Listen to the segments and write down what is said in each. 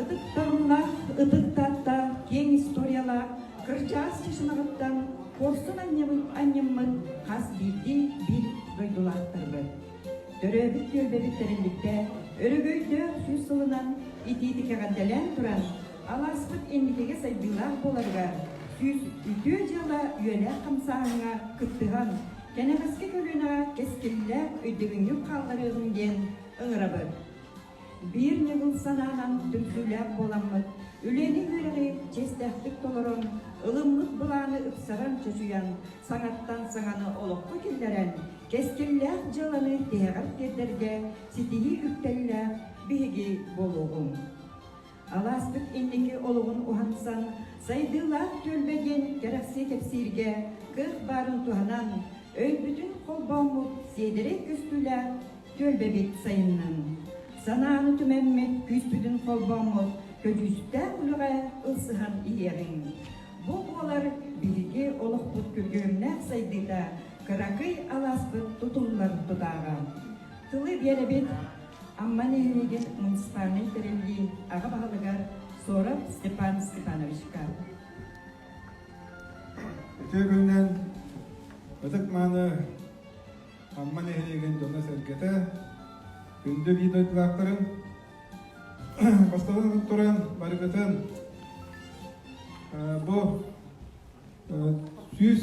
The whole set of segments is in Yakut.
Ытыктарылаах ытыктаатта киэҥ историялаах кырдьаас чычынаҕыттан хорсун анньыммыт хас биирдии биир дойдулаахтарбыт. Төрөөбүт түөлбэбит тэриллибитэ өрөгөйдөөх сүүс сылынан итиитик эҕэрдэлээн туран Алааспыт инникигэ сайдыылаах буоларыгар сүүс үтүө дьыала үөлээх хамсааһыҥҥа кыттыһан, кэнэҕэски көлүөнэҕэ кэскиллээх өйдөбүнньүк хаалларыаҕыҥ диэн ыҥырабыт. Биир ньыгыл санаанан түмсүүлээх буоламмыт, үлэни-үөрэҕи чиэстээхтик толорон, ылыммыт былааны ыпсаран-чочуйан, саҥаттан саҥаны олоххо киллэрэн, кэскиллээх дьыаланы тиһэҕэр тиэрдэргэ ситиһии үктэллээх биһиги буолуоҕуҥ. Алааспыт инники олоҕун уһапсан, сайдыылаах түөлбэ диэн кэрэхсии кэпсииргэ кыах баарын туһанан, өйбүтүн холбооммут сиэдэрэй көстүүлээх түөлбэбит сайыннын! Санааны түмэммит, күүспүтүн холбооммут көдьүүстээх үлэҕэ ылсыһан иһиэҕиҥ! Бу буолар биһиги олохпут күргүөмнээх сайдыыта кыракый алааспыт тутуллар тутааҕа. Тылы биэрэбит, Амма нэһилиэгин муниципальнай тэриллии аҕа баһылыгар Соров Степан Степановичка. Үтүө күннэн ытык-мааны Амма нэһилиэгин дьоно-сэргэтэ күндү бии дойдулаахтарын хостонун туттуран барыгытын бу сүүс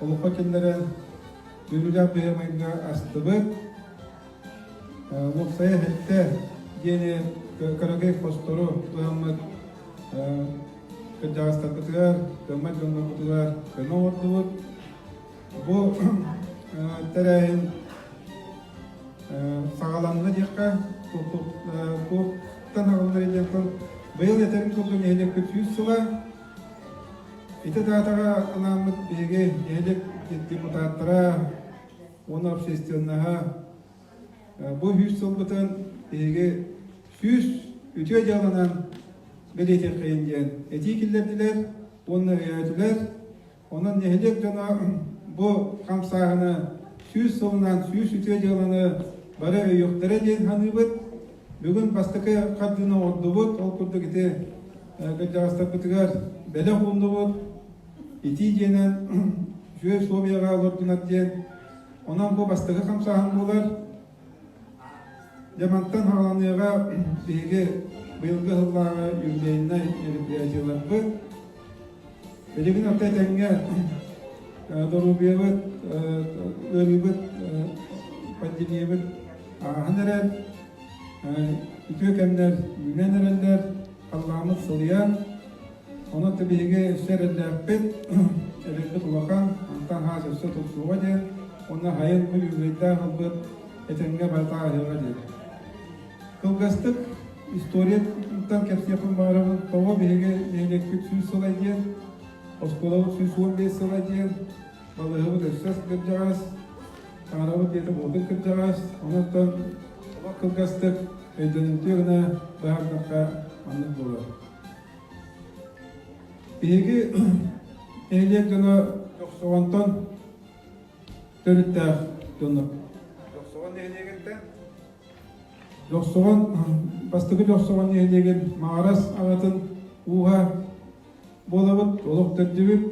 олоххо кэллэрэ үөрүүлээх бэйэмайга астыбыт уопсайа эһэттэ диэни кыракый хостору быһаммыт кырдьаҕастарбытыгар кыаммат дьоннорбутугар көмө оҥордубут бу тэрээһин саҕаланна диэххэ туохтан аҕаллар диэн быйыл этэрин курдук нэһилиэкпит сыла Ити даатаҕа анааммыт биһиги нэһилиэк депутаттара уонна общественноһа бу үһүс сылбытын биһиги сүүс үтүө дьыаланан бэлиэтиэххин диэн этии киллэрдилэр уонна өйөөтүлэр. Онон нэһилиэк дьоно бу хамсааһыны сүүс сылынан сүүс үтүө дьыаланы бары өйүөхтэрэ диэн саныыбыт. Бүгүн бастакы хардыыны оҥордубут, ол курдук ити кырдьаҕастарбытыгар бэлэх ууннубут. Итии дьиэнэн үтүө условияҕа олордунар диэн. Онон бу бастакы хамсааһын буолар. Дьэ мантан хааланыаҕа биһиги быйылгы сыллааҕы юбилейнай мероприятиеларбыт. Билигин орто этэҥҥэ доруобуйабыт, ыарыыбыт, пандемиябыт ааһан эрэр. Үтүө кэмнэр үүнэн эрэллэр, халлааммыт сылыйан, Онон биһиги өссө эрэллээхпит, эбэлбит улахан, онтон хаас өссө тупсуоҕа диэн, уонна хайын үчүгэйдээх ылбыт этэҥҥэ баттааһыаҕа диэн. Кылгастык историятыттан кэпсиэхпин баарабын, тоҕо биһиги нэһилиэкпит сүүс сыла диэн, оскуолабыт сүүс уон биэс сыла диэн, балыһабыт өссө кырдьаҕас, таарабыт диэтэ буотун кырдьаҕас, онон кылгастык өйдөнүмтүө гына быһаардахха маннык буолар. Биһиги нэһилиэк дьоно Дохсоҕонтон төрүттээх дьоно. Дохсоҕон нэһилиэгиттэн? Дохсоҕон, бастакы Дохсоҕон нэһилиэгин Маҕарас аҕатын ууһа буолабыт, олох төрдүбүт.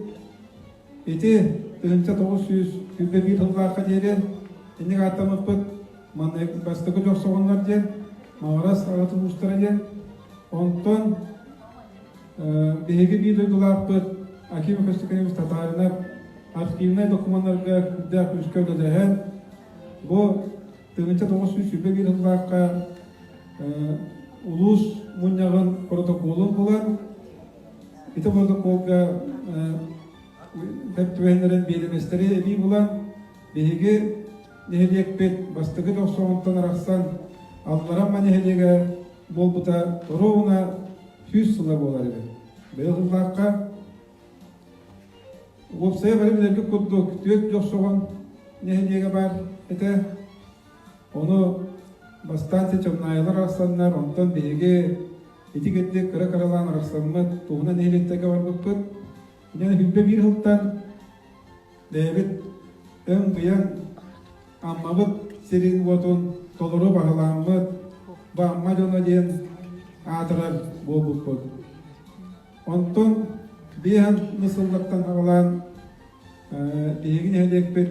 Ити тыһыынча тоҕус сүүс сүүрбэ биир сылгаахха диэри итинник ааттаммыппыт маннык бастакы дьохсоҕоннор диэн Маҕарас аҕатын уустара диэн онтон биһиги биир дойдулаахпыт Аким Костюканевич Татаринов архивнай докумуоннарга күүрдээх күүскэ үлэлэһэн бу тыһыынча тоҕус сүүс сүүрбэ биир сылгаахха улуус мунньаҕын протоколун булан Ити протоколга тэптүгэннэрин биэдэмэстэри эбии булан, биһиги нэһилиэкпит бастакы тохсоҕонтон арахсан Алларама нэһилиэгэ буолбута торуона сүүс сыла буолар эбит. Быйыл жыллаахха уопсайа бары билэргит курдук, түөрт Дьохсоҕон нэһилиэгэ баар этэ. Ону бастаан чочомнаайылар арахсаннар, онтон биһиги ити кырдык кыра-кыралаан арахсаммыт туһунан нэһилиэктэргэ барбыппыт. Инэн Хүлбэ биир сылтан бэйэбит өҥ-быйаҥ Аммабыт сирин-уотун толору баһылааммыт Баамма дьоно диэн аатырар буолбуппут. Онтон биэс сыллартан аҕалаан Эһиги нэһилиэкпит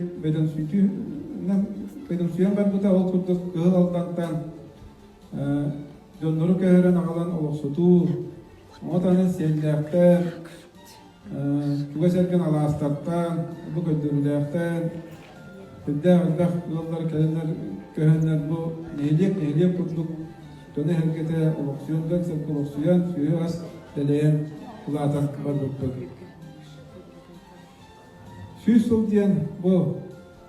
бэдэнсүйэн барбыта ол курдук Кыһыл Алдантан дьоннору көһөрөн аҕалан олохсутуур, оҕо таһынан сиэллээхтэр, чугас эргин алаастартан, бу көрдөрүүлээхтэр, сүрдээх элбэх ыаллар кэлэннэр көһөннөр бу нэһилиэк нэһилиэк курдук дьону эһэргэтэ олохсуйан дьон сэргэ олохсуйан сүөһү ас дэлэйэн улаатан барбыппыт. Сүүс сыл диэн бу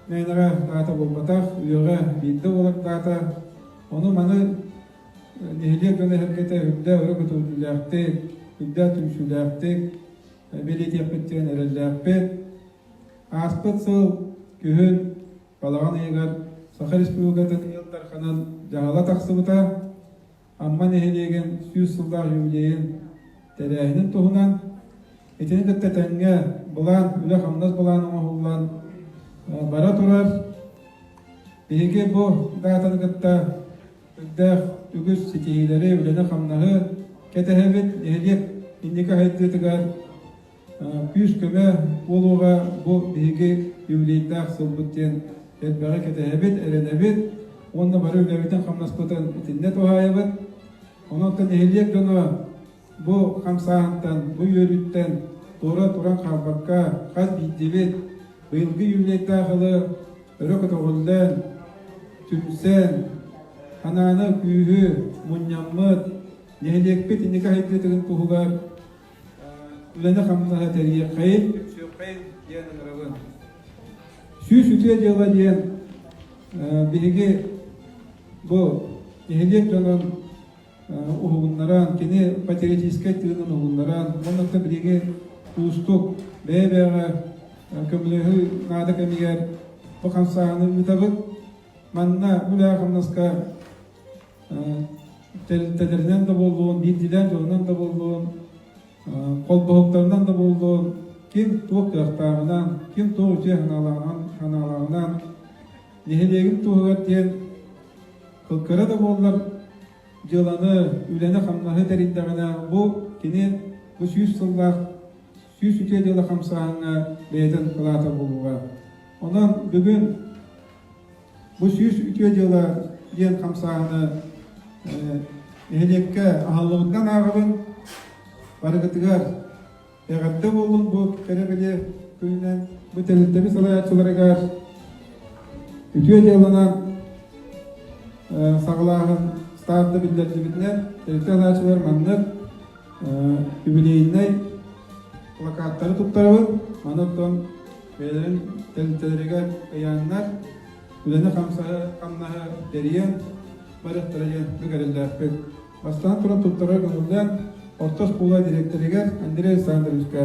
мээнэрэ даата буолбатах, үйэҕэ биирдэ буолар даата. Ону-маны нэһилиэк дьоно-сэргэтэ үрдэ өрө көтүрүүлээхтик, үрдэ түмсүүлээхтик бэлиэтиэхпит диэн эрэллээхпит. Ааспыт сыл күһүн балаҕан ыйыгар Саха Республикатын Ил Дарханын дьаһала тахсыбыта. Амма нэһилиэгин сүүс сыллаах юбилейын тэрээһинин туһунан итини кытта тэҥҥэ былаан, үлэ-хамнас былаан оҥоһуллан бара турар. Биһиги бу даатаны кытта үрдээх үгүс ситиһиилэри, үлэни-хамнаһы кэтэһэбит. Нэһилиэк инники сайдыытыгар күүс-көмө буолуоҕа бу биһиги юбилейдаах сылбыт диэн элбэҕи кэтэһэбит, эрэнэбит уонна бары үлэбитин-хамнаспытын итиннэ туһаайабыт. Онон нэһилиэк дьоно бу хамсааһынтан, бу үөрүүттэн туора туран хаалбакка хас биирдибит быйылгы юбилейдаах yılı өрө көтөҕүллэн, түмсэн, ханааны, күүһү мунньаммыт, нэһилиэкпит инники сайдыытын туһугар үлэни-хамнаһы тэрийиэххэй. Сүөххэй диэн ыҥырабын. Сүүс үтүө дьыала диэн биһиги бу нэһилиэк дьонун уһугуннаран, кини патриотическай тыынын уһугуннаран, онно билиги уустук бэйэ-бэйэҕэ көмөлөһүү наада кэмигэр бу хамсааһыны ыытабыт. Манна бу үлэ хамнаска Тэтэринэн да буоллун, биирдилээн дьонунан да буоллун, холбоһуктарынан да буоллун, ким туох кыахтааҕынан, ким туох үтүө санаалааҕынан, санаалааҕынан нэһилиэгим туһугар диэн кыра да буоллар дьыаланы, үлэни-хамнаһы тэрийдэҕинэ бу кини бу сүүс сыллаах сүүс үтүө дьыала хамсааһыҥҥа бэйэтин кылаата буолуоҕа. Онон бүгүн Бу сүүс үтүө дьыала диэн хамсааһыны нэһилиэккэ аһаллыбытынан ааҕабын. Барыгытыгар эҕэрдэ буоллун бу кэрэ-бэлиэ күнүнэн бу тэрилтэбит салайааччыларыгар үтүө дьыаланан саҕалааһын стаатта биллэрдибитинэн тэрилтэ салайааччылар маннык юбилейнай плакаттары туттарабын. Маны оттон бэйэлэрин территориягар ыйааннар үлэни хамнаһы тэрийэн барыахтара диэн бигэрэллээхпит. Бастаан туран туттара көҥүллээн орто оскуола дириэктэригэр Андрей Александровичка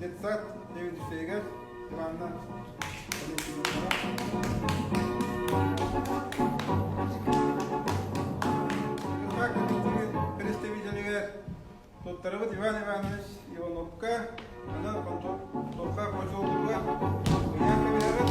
детсад девятисегер Иванна представителигэр туттарыбыт Иван Иванович Ивановка анан токка косолдуга ыйан каберерет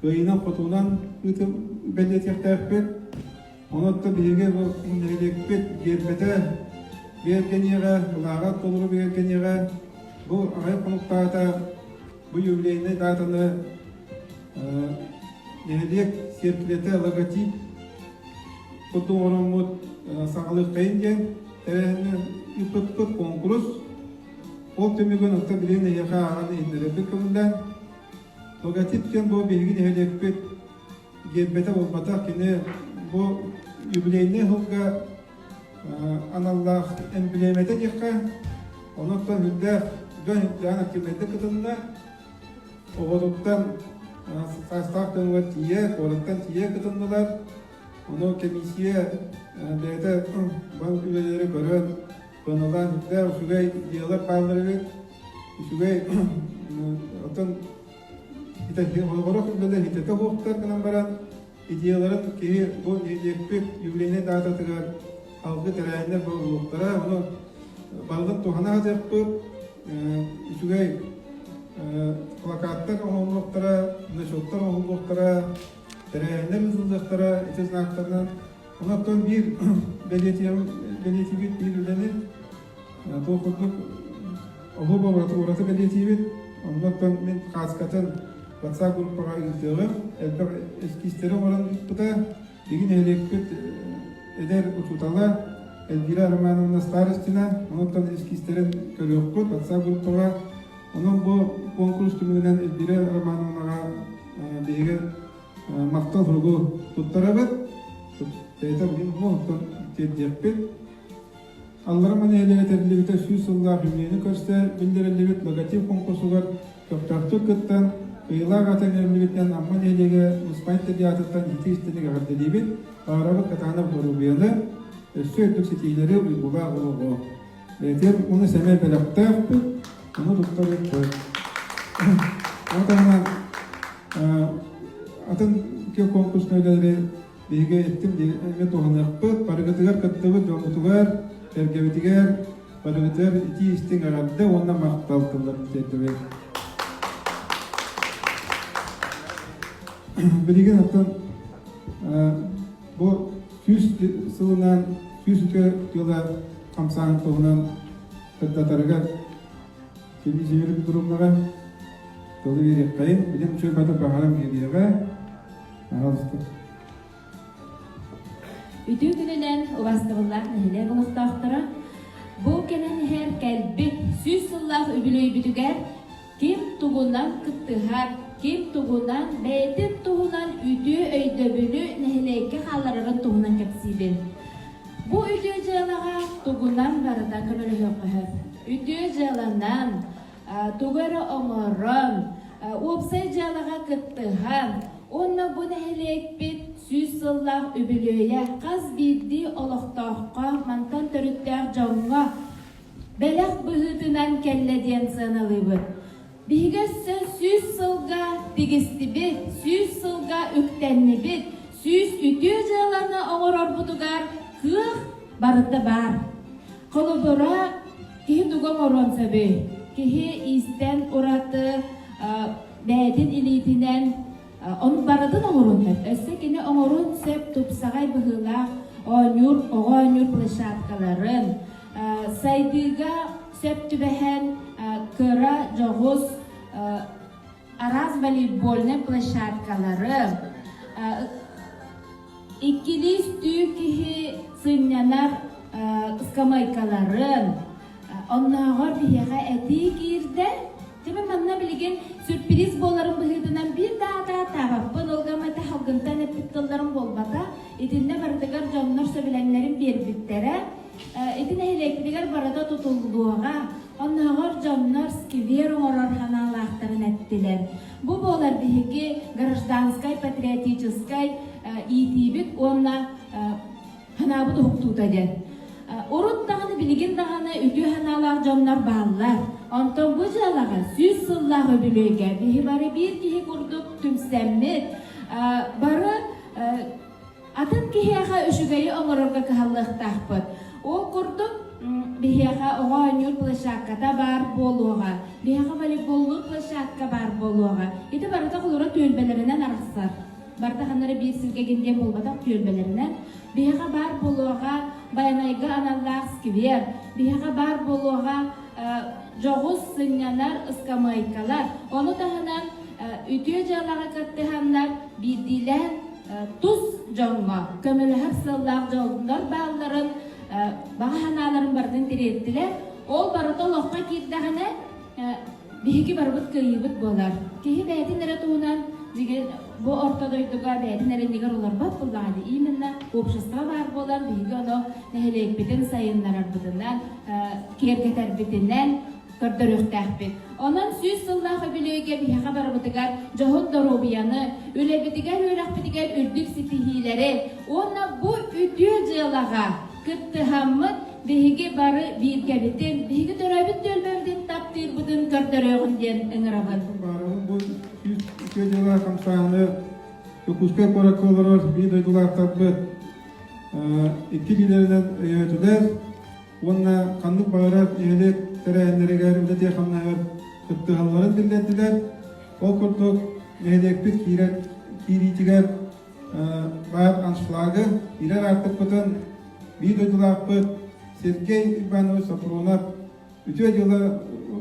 кыайыынан-хотуунан ыытым бэлиэтиэхтээхпит. Онон биһиги нэһилиэкпит биэрбэтэ биэргэниэҕэ, ылааҕа толору биэргэниэҕэ. Бу аҕай хонуктаата бу юбилейнай даатаны нэһилиэк сиэркилэтэ логотип кутун оҥороммут саҕалыаххайын диэн тэрээһини ыыппыппыт куонкурус. Ол түмүгүн ыкта билигин эһиэхэ ааҕан иһиннэрэбит кыбыллан, Богатит дьон бу биһиги нэһилиэкпит гиэрбэтэ-буолбатах кини бу юбилейнай сылга аналлаах эмблемэтэ диэххэ онуттан үрдээх дьон дьаан аккимиэтэ кытынна оҕотуттан саастаах дьонугар тиийэ куораттан тиийэ кытыннылар ону комиссия бэйэтэ банк үлэлэри көрөн Конуга кытта үчүгэй дело хаалырыгыт, үчүгэй отон олоҕурох үлбэлэр хитэтэ хуохтар гынан баран, идеяларын киһи бу эппит явление даататыгар халгы тэрээһиннэр буолуохтара, ону балгын туһана хадыахпыт, үчүгэй плакаттар оҥоһуллуохтара, начеттар оҥоһуллуохтара, тэрээһиннэр ыытыллыахтара эти знактарынан Оттон биир бэлиэтиибит биир үлэни бу курдук оһуоб ураты бэлиэтиибит. Оннуттан мин кааскатын WhatsApp группаҕа ыытыаҕым. Элбэх эскизтери оҥорон ыыппыта. Бүгүн нэһилиэкпит эдэр учуутала Эльвира Романовна Старостина, онуттан эскизтэрин көрүөхпүт WhatsApp группаҕа. Онон бу конкурс түмүгүнэн Эльвира Романовнаҕа биһиги махтал суругу туттарабыт бэйэтэ быйыл буолтан тиэрдиэхпит алларым нэһилиэгэ тэриллибитэ сүүс сыллаах үмүөнү көрсө биллэриллибит логотип конкурсугар көхтөөхтүк кыттан Ыйылаах атын эриллибитинэн Амма нэһилиэгэ муниципальный терриатыттан итии истэник эҕэрдэлиибит, баарабыт катанов доруобуйаны, өссө үрдүк ситиилэри, уйгулаах олоҕу! Эдэр ону сэмэй бэлэхтээхпит, ону туттарыахпыт. Ол таһынан атын конкурсные үлэлэри биһиги иттим диэн эмиэ туһаныахпыт. Барыгытыгар кыттыбыт дьоммутугар, эргэбитигэр барыгытыгар итии-истиҥ эҕэрдэ уонна махтал тыллар тиэрдэбин. Билигин оттон Бу сүүс сылынан сүүс үтө тыла хамсааһын туһунан сырдатарыгар телевизионерга туруумнаҕа тылы биэриэххэйин билим үчүгэй бата баһарым биэриэҕэ аҕалыстык Үтүө күнүнэн убастабыллаах нэһилиэк олохтоохторо бу кэлэн иһэр кэлби сүүс сыллаах үбүлүөйбүтүгэр Ким тугунан кыттыһар, ким тугунан, бэйэтин туһунан үтүө өйдөбүлү нэһилиэккэ хаалларарын туһунан кэпсиибин. Бу үтүө дьыалаҕа тугунан барыта көмөлөһүөххэ сөп. Үтүө дьыаланан, тугу эрэ оҥорон, уопсай дьыалаҕа кыттыһан уонна бу нэһилиэкпит сүүс сыллаах үбүлүөйэ хас биирдии олохтооххо мантан төрүттээх дьоҥҥо бэлэх быһыытынан кэллэ диэн сыаналыыбыт. Биһиги өссө сүүс сылга тигистибит, сүүс сылга үктэннибит, сүүс үтүө дьыаланы оҥорорбутугар кыах барыта баар. Холобура, киһи тугу оҥоруон сөбүй? Киһи иистэн ураты бэйэтин илиитинэн Ону барытын оҥоруон сөп. Өссө кини оҥоруон сөп тупсаҕай быһыылаах оонньуур, оҕо оонньуур площадкаларын сайдыыга сөп түбэһэн кыра, дьоҕус, араас волейбольнай площадкалары Иккилис түү киһи сынньанар ыскамыайкаларын, оннооҕор биһиэхэ этии киирдэ. Дьэ, манна билигин сюрприз буоларын быһыытынан биир даата таабаппын, ол гаммыта халгынтан эппит тылларым буолбата. Итиннэ барытыгар дьоннор сөбүлэҥнэрин биэрбиттэрэ. Ити нэһилиэкпитигэр барыта тутуллуоҕа. Оннооҕор дьоннор сквер оҥорор санаалаахтарын эттилэр. Бу буолар биһиги гражданскай, патриотическай иитиибит уонна санаабыт уһуктуута диэн. Урут даҕаны билигин даҕаны үтүө санаалаах дьоннор бааллар. Онтон бу дьыалаҕа сүүс сыллаах үбүлүөйгэ биһи бары биир киһи курдук түмсэммит, бары Атын киһиэхэ үчүгэйи оҥорорго кыһаллыахтаахпыт. Ол курдук, биһиэхэ оҕо оонньуур площадката баар буолуоҕа, биһиэхэ волейболлуур площадка баар буолуоҕа. Ити барыта холоро түөлбэлэринэн арахсар. Барыта ханна эрэ биир сиргэ диэн буолбатах түөлбэлэринэн. Биһиэхэ баар буолуоҕа Байанайга аналлаах сквер, биһиэхэ баар буолуоҕа дьоҕус сынньанар ыскамыайкалар. Ону таһынан үтүө дьыалаҕа кыттыһаннар биирдиилээн тус дьоҥҥо көмөлөһөр сыаллаах дьоннор баалларын, баҕа санааларын барытын тириэртилэр. Ол барыта олоххо киирдэҕинэ, биһиги барыбыт кыайыыбыт буолар. Киһи бэйэтин эрэ туһунан бу орто дойдуга бэйэтин эрэ иннигэр олорбот буоллаҕына именно общество баар буолан биһиги ону нэһилиэкпитин сайыннарарбытынан, киэргэтэрбитинэн көрдөрүөхтээхпит. Онон сүүс сыллаах үбүлүөйгэ биһиэхэ барыбытыгар дьоһун доруобуйаны, үлэбитигэр-үрэхпитигэр үрдүк ситиһиилэри уонна бу үтүө дьыалаҕа кыттыһаммыт биһиги бары бииргэбитин, биһиги төрөөбүт түөлбэбитин таптыырбытын көрдөрүөҕүн диэн ыҥырабын. Баарабын бу сүүс үтүө дьыалаҕа хамсааһыны Дьокуускай куоракка олорор биир дойдулаахтарбыт икки лиидэринэн өйөөтүлэр. уонна ханнык баҕарар нэһилиэк тэрээһиннэригэр үлэтии-хамнаһыгар кыттыһалларын биллэрдилэр. Ол курдук, нэһилиэкпит киирэр киириитигэр баар аншлагы, киирэр аартыкпытын биир дойдулаахпыт Сергей Иванович Сафронов үтүө дьылы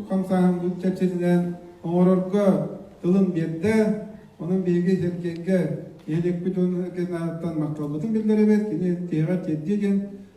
хамсааһын чэрчитинэн оҥорорго тылын биэрдэ. Онон биһиги Сергейгэ нэһилиэкпит уонна махталбытын биллэрэбит. Кини тиһэҕэр тиэрдиэ диэн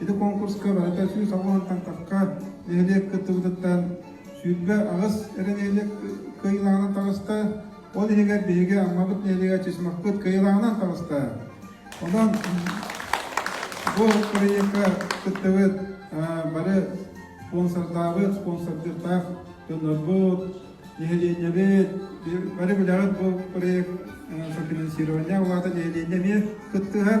Ити конкурска барыта сүүс аҕыһан тахтахха нэһилиэк кыттыбытыттан сүүрбэ аҕыс эрэ нэһилиэк кыайыылааҕынан таҕыста. Ол иһигэр биһиги Аммабыт нэһилиэгэ чычымахпыт кыайыылааҕынан таҕыста. Онон бу проекка кыттыбыт бары спонсордаабыт, спонсордуохтаах дьоннорбут, нэһилиэнньэбит, бары билэҕит бу проект софинансирования улаата нэһилиэнньэ эмиэ кыттыһар.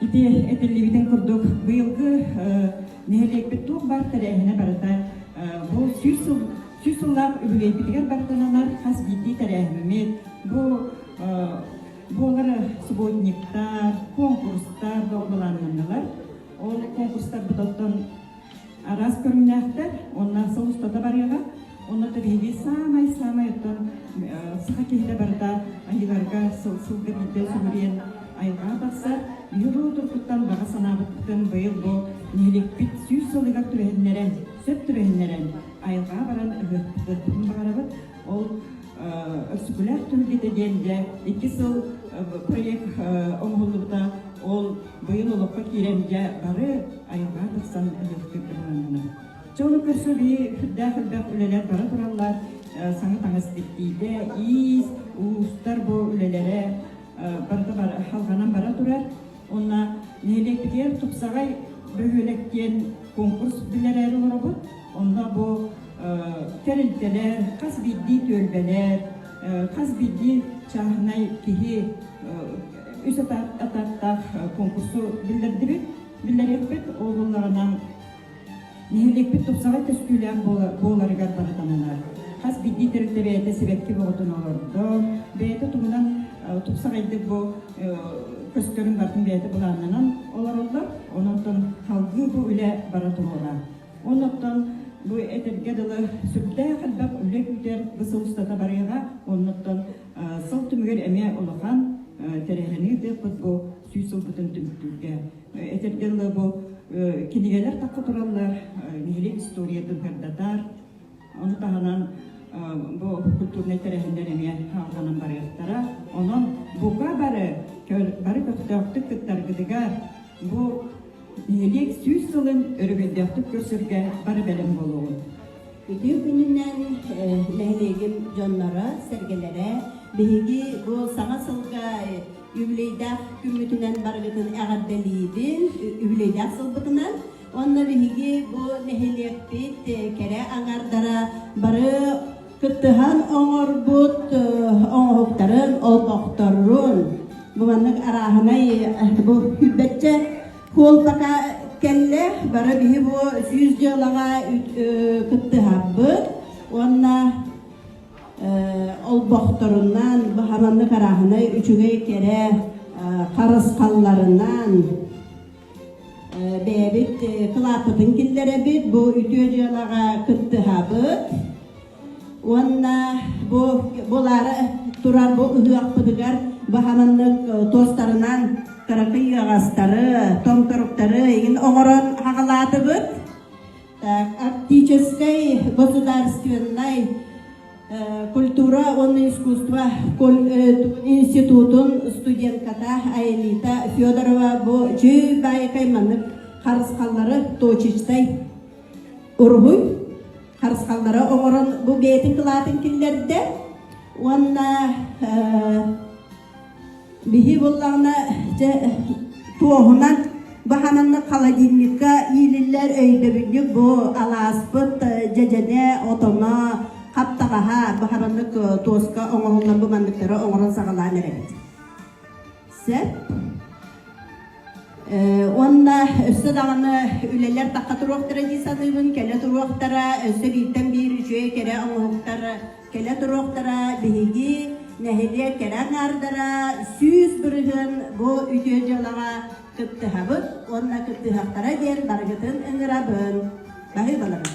Ити этиллибитин курдук, быйылгы нэһилиэкпит туох баар тэрээһинэ барыта бу сүүс сыл сүүс сыллаах үбүлүөйбүтүгэр бартананар хас биирдии тэрээһиммит, бу буолары субботниктар, конкурстар былааннаннылар. Ол конкурстарбыт оттон араас көрүҥнээхтэр, онно сыл устата барыаҕа. Онно биһиги саамай-саамай оттон саха киһитэ барыта айыыларга сылга биирдэ сүгүрүйэн айылҕаҕа тахсар. Биһиги олоҕутуттан баҕа санаабытыттан быйыл бу нэһиликпит сүүс сылыгар түбэһиннэрэн, сөп түбэһиннэрэн айылҕаҕа баран ыһыахпытын баҕарабыт. Ол Өксүкүлээх түмүгэтэ диэнгэ икки сыл проект оҥоһуллубута ол быйыл олоххо киирэргэ бары айылҕа тахсан ыһыахтык быһаарынна. Чон көрсө би үрдээх-үрдээх үлэлэр бара тураллар саҥа таҥас типтиитэ, иис, уустар бу үлэлэрэ барыта бара халҕанан бара турар. Онно нэһилиэкпитигэр Тупсаҕай бөһүөлэк диэн конкурс билэрээри олоробут. Онно бу тэрилтэлэр, хас биирдии түөлбэлэр, хас биирдии чааһынай киһи үс ататтах конкурсу биллэрдибит. Биллэриэхпит ол буоллаҕына Нэһилиэкпит тупсаҕай көстүүлээх буоларыгар барытананар. Хас биирдии тэрилтэ бэйэтэ сибэкки боҕотун олордо, бэйэтэ тугунан тупсаҕайдык бу көстөрүн бартын бэйэтэ былааннанан олороллор. Онон халгыы бу үлэ бара туруоҕа. Онон бу этэргэ дылы сүрдээх элбэх үлэ күүтэр бу сыл устата барыаҕа. Оннуттан сыл түмүгэр эмиэ улахан тэрээһини ыытыахпыт бу сүүс сылбытын түмүктүүргэ. Этэргэ дылы бу кинигэлэр тахса тураллар, нэһилиэк историятын көрдатар, ону таһынан бу культурнай тэрээһиннэр эмиэ хаалҕанан барыахтара. Онон бука бары бары көхтөөхтүк кыттаргытыгар бу нэһилиэк сүүс сылын өрөгөйдөөхтүк көрсөргө бары бэлэм буолуоҕун. Үтүө күнүнэн нэһилиэгим дьонноро, сэргэлэрэ, биһиги бу саҥа сылга Үбүлүөйдээх күммүтүнэн барыгытын эҕэрдэлиибин, үбүлүөйдээх сылбытынан. Онно биһиги бу нэһилиэкпит кэрэ аҥардара бары кыттыһан оҥорбут оҥоһуктарын, олбохторун, бу маннык арааһынай бу билбэччэ куолпака кэллэ бары биһи бу сүүс дьыалаҕа кыттыһарбыт уонна олбохторунан маннык араһынай үчүгэй кэрэ харысхалларынан бэйэбит кылааппытын киллэрэбит бу үтүө дьыалаҕа кыттыһабыт уонна бу булаары турар бу ыһыахпытыгар баһаманнык туостарынан кыракый ыаҕастары томторуктары игин оҥорон аҕалаатыбыт Оптической, государственной культура уонна искусство институтун студентката Аэлита Федорова бу дьыыбайкай маннык харысхаллары точечтай уруһуй харысхаллары оҥорон бу бэйэтин кылаатын киллэрдэ уонна Биһи буллаҕына дьэ туоһунан баһананнык холодильникка иилиллэр өйдөбүнньүк бу алааспыт дьэдьэне, отоно, хаптаҕаһа баһарыннык туоска оҥоһуллан бу манныктары оҥорон саҕалаан эрэбит. Сөп. Уонна өссө даҕаны үлэлэр тахха туруохтара дии саныыбын. Кэлэ туруохтара. Өссө бииртэн биир үчүгэй кэрэ оҥоһуктар Кэлэ туруохтара биһиги нэһилиэк кэрэ аҥаардара сүүс бырыһыан бу үтүө дьыалаҕа кыттыһабыт уонна кыттыһахтара диэн барыгытын ыҥырабын. Баһы балаҕан.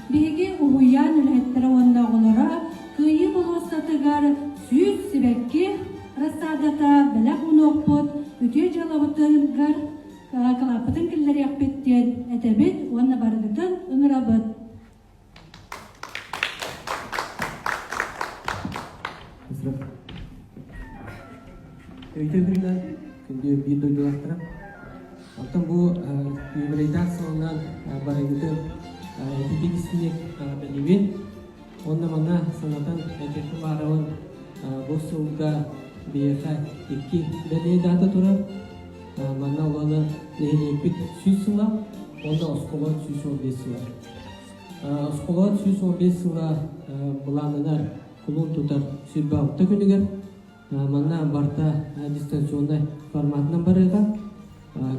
Биһиги уһуйаан үлэһиттэрэ уонна оҕолоро Кыайыы болуоссатыгар сүүс сибэкки рассадата бэлэх уунуохпут, үтүө дьыалабытыгар кылааппытын киллэриэхпит диэн этэбит уонна барыгытын ыҥырабыт. өйдөбүллэр, күндү биир дойдулаахтара. Оттон бу юбилейдацияланан барыгытын ититик истиник билибин. Онно мана санатан эдекке баарабын бу сылга биэхэ икки бэлиэдаата турар. Манна олоны нэһилиэкпит сүүс сыла, онда осколон сүүс он бес сыла. Осколон сүүс он бес сыла былаанынан кулун тутар сүрбэ алта күнүгэр Манна барта дистанционнай форматынан барыыга,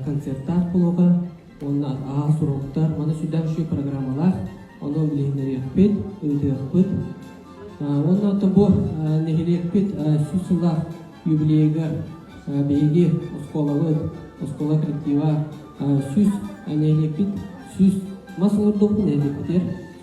концерттаах блога уонна аһаҕас уруоктар, маны сүрдээх үчүгэй программалаах. Ону билиһиннэриэхпит, ыытыахпыт. Уонна оттон бу нэһилиэкпит сүүс сыллаах юбилейга биһиги оскуолабыт, оскуола коллектива сүүс нэһилиэкпит, сүүс мас олордуохпут нэһилиэкпитигэр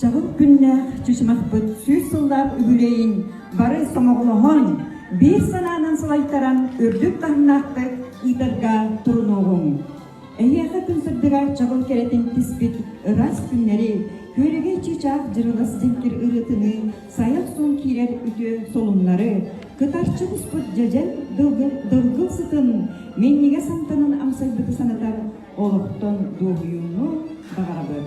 Чаҕыл күннээх чычымахпыт сүүс сыллаах үбүлүөйүн бары сомоҕолоһон, биир санаанан сылайтаран үрдүк таһымнаахтык ыытарга турунуоҕуҥ. Эһиэхэ күн сырдыга чаҕыл кэрэтин тиспит ырас күннэри, күөлүгэ чыычаах дьырылас дьиҥкир ырыытыныы сайах суон киирэр үтүө солуннары, кытарчы буспут дьэдьэн дылгы, дылгыл сытын, минньигэс амтанын амсайбыты санатар олохтон дуоһуйууну баҕарабыт.